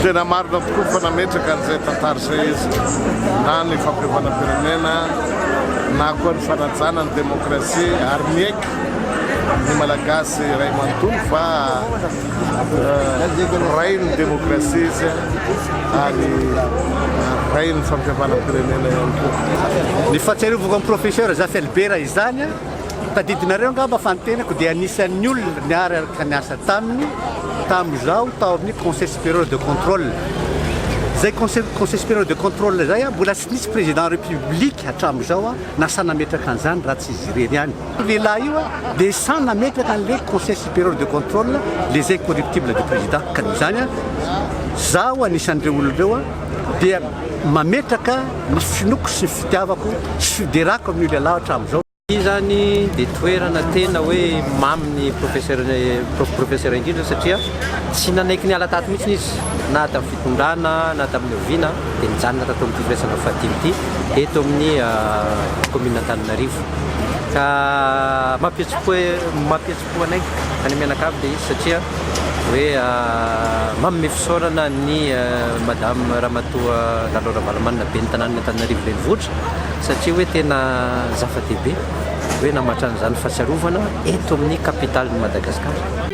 Tena marina tokoa fa nametraka an'izay tantara izay izy na ny fampihavana firenena na koa ny fanajana ny demokrasia ary miaiky ny malagasy iray manontolo fa Rain'ny demokrasia izy ary rain'ny fampihavanam-pirenena ihany koa. Ny fahatsiarovako an'i Professeur Zafel Bera izany, tadidinareo angamba fa ny tenako dia anisan'ny olona niaraka niasa taminy tamin'izaho tao amin'ny Conseil Supérieur de Contrôle. Izay Conseil Conseil Supérieur de Contrôle izay mbola tsy nisy Président République hatramin'izao na sahy nametraka an'izany raha tsy izy irery ihany. Io lehilahy io dia sahy nametraka an'ilay Conseil Supérieur de Contrôle les Incorruptibles du Président ka noho izany izaho anisan'ireo olona ireo dia mametraka ny finoako sy ny fitiavako sy fiderako amin'io lehilahy hatramin'izao. Ity izany dia toerana tena hoe mamy ny Professeur Professeur indrindra satria tsy nanaiky niala tato mihitsy izy na tamin'ny fitondrana na tamin'ny oviana dia nijanona tato amin'ity firaisana fahadimy ity eto amin'ny Commune Antananarivo. ka mampihetsi-po mampihetsi-po anay any mianakavy ilay izy satria hoe manome fisaorana ny madame ramatoa Lalo Ravalomanana ben'ny tanànan'Antananarivo Renivohitra satria hoe tena zava-dehibe hoe namatra an'izany fahatsiarovana eto amin'ny capitalin'i Madagasikara.